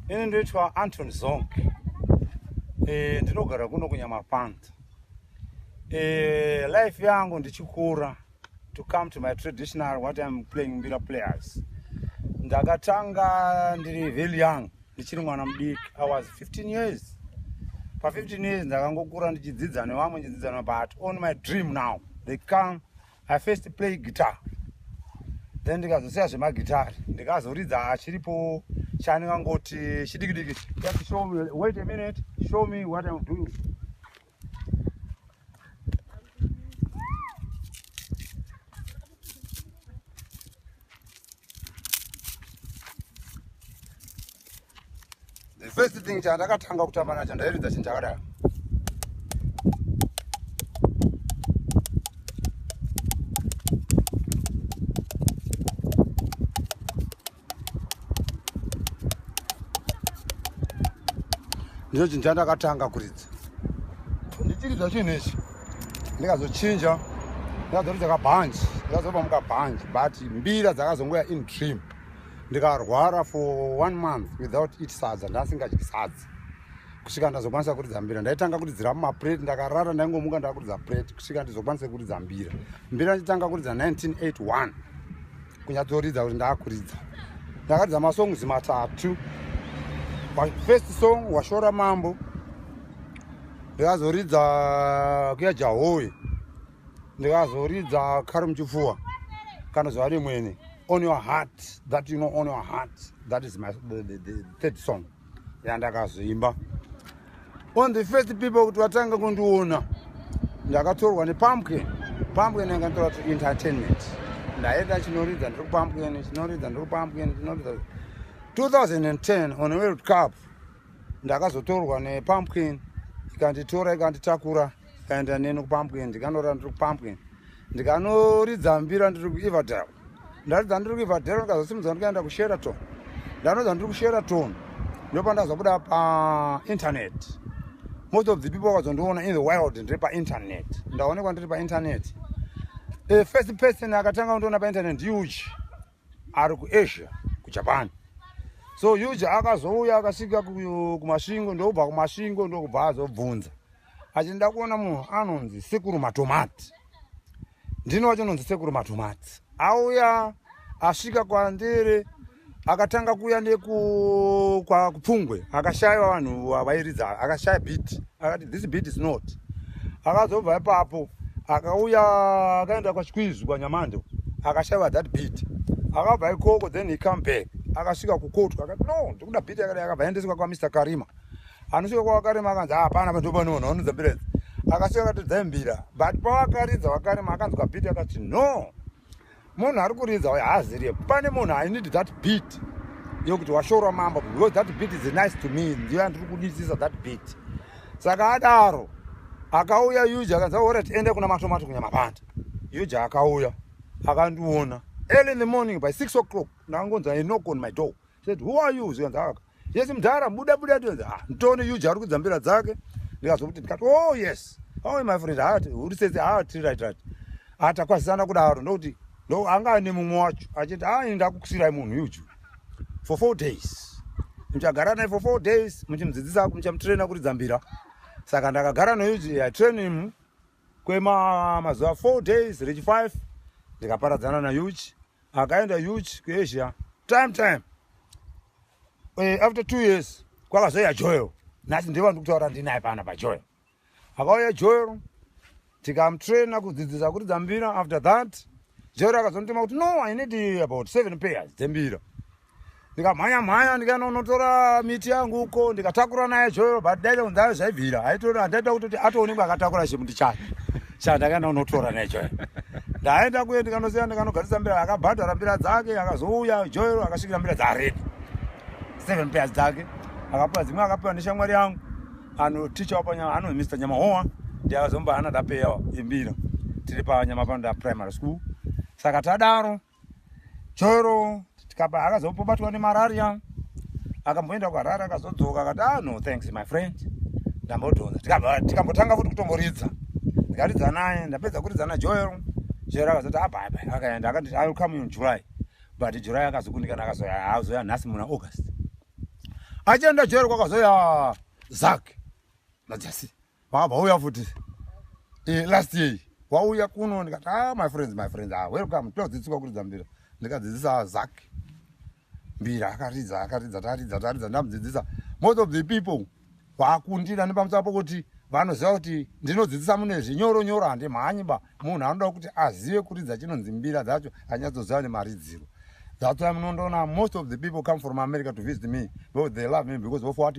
ini ndoitwa anton zong e, ndinogara kuno kunyamapanda e, life yangu ndichikura to come to my traditional what im playing mbira players ndakatanga ndiri very young ndichiri mwana mudiki i was 15 years pa15 years ndakangokura ndichidzidza nevamwe ndichidzidza nevamwe but on my dream now they come i first play guitar then ndikazosiya zvemagitari ndikazoridza chiripo chandingangoti chidikidiki just show me wait a minute show me what i'm doing the first thing chandakatanga kutamba nacho ndairidza chinhu chakadaro ndicho chinhu chandakatanga kuridza ndichiri zvachinhu ichi ndikazochinja ndikazoridza kabhanji ndikazopa mukabhanji but mbira dzakazongoya in dream ndikarwara for one month without it sadza ndasingadyi sadza kusvika ndazokwanisa kuridza mbira ndaitanga kuridzira mumaprate ndakarara ndaingomuka ndakuridza prate kusvika ndizokwanisa kuridza mbira mbira nditanga kuridza 1981 kunyatsoridza kuti ndakuridza ndakaridza masongs matatu first song washora mambo ndikazoridza kuya jahowe ndikazoridza kari muchipfuwa kana zuva rimwene on your heart that you know on your heart that is my the, the, the third song yandakazvimba on the first people kuti vatanga kundiona ndakatorwa nepumpkin pumpkin yanga nditora to entertainment ndaenda chinoridza ndiri kupumpkin chinoridza ndiri kupumpkin chinoridza 2010 on world cup ndakazotorwa nepumpkin ikanditora ikanditakura ikaenda neni kupumpkin ndikanorira ndiri kupumpkin ndikanoridza mbira ndiri kueverdale ndaridza ndiri kuibva dhero ndikazosimudza ndikaenda kusheraton ndanoza ndiri kusheraton ndopandazobuda painternet most of the people vakazondiona in the wild ndiri painternet ndaonekwa ndiri painternet a first person akatanga kundiona painternet huge ari kuasia kujapan so huge akazouya akasvika kumasvingo ndokubva kumasvingo ndokubva azobvunza Achi ndakuona munhu anonzi sekuru matomati. Ndini wacho nonzi sekuru matomati. Auya asvika kwandiri akatanga kuya neku kwa kupfungwe akashaya vanhu vairidza akashaya beat akati this beat is not akazobva ipapo akauya akaenda kwachikwizvi kwanyamando akashaiwa that beat akabva ikoko then he come back akasvika kukotwa akati no ndikuda beat akati akabva aendeswa kwamr karima anosvika kwawakarima akanzi ah, hapana pa ndopanoona unonza mbirezi akasvika akatodza mbira but pawakaridza wakarima akanzwa bit akati no munhu ari kuridza uyo haazirie pane munhu i need that bit yokuti washorwa mambo because that bit is nice to me ndiyo yandiri kudisisa that bit saka adaro akauya yuja akanzi ora tiende kuna matomato kunyamapanda yuja akauya akandiona early in the morning by six o'clock ndakangonza a knock on my door said who are you zvikanzi aka yes mudhara buda buda tikanzi ah nditone uj ari kudzambira dzake ndikazokuti ndikati oh yes oh my friend hat uri sese ha ah, tiri right right atakwazisana ah, kudaro ndokuti no anga ane mumwe wacho achiti ha ah, ini ndakukusirai munhu uju for four days muchagara naye for four days muchimudzidzisa muchamutraina kuri dzambira saka ndakagara neuji yatrain him kwemazuva four days rechi five ndikaparadzana na uj akaenda huge kuasia time time eh, after two years kwakazouya joel nhasi ndiye vandiri kutaura ndinaye pana pajoel akauya joel tikamtraina kudzidzisa kuridza mbira after that joel akazonditema kuti no i need about seven pairs dzembira ndikamhanya mhanya ndikaenda unotora miti yangu uko ndikatakura naye zvoyo but daita kunzi ayo zvaibvira aitoona handaita kutoti atoonekwa akatakura chimuti chake sha ndakaenda unotora naye zvoyo ndaenda kuye ndikanoziva ndikanogarisa mbira akabhadhara mbira dzake akazouya joyo akasvikira mbira dzaredi seven pairs dzake akapiwa dzimwe akapiwa neshamwari yangu anoticha wapanyama ano mr nyamahowa ndi akazomba anadapeya imbira tiri panyama panoda primary school saka tadaro choro tikaba akazopobatwa nemararia akamboenda kuharare akazodzoka akati ah no thanks my friend ndambodhonza tikambotanga futi kutomboridza ndikaridza naye ndapedza kuridza najoel joel akazoti abaiba ah, akaenda akanditi i will come in july but july akazokundikana akazoya azoya nhasi muna august achienda joel kwakazoya zak najasi Baba vauya futi eh, last year wauya kuno ndikati ah, my friends my friends ah, welcome todzidziswa kuridza mbira ndikadzidzisa zak mbira akaridza akaridza taridza taridza ndamudzidzisa most of the people vakundira nepamusana pokuti vanoziva kuti ndinodzidzisa mune zvinyoro nyoro handimhanyi ba munhu anoda kuti azive kuridza chinonzi mbira dzacho anyatsoziva nemaridziro that's why munondoona most of the people come from america to visit me because they love me because of what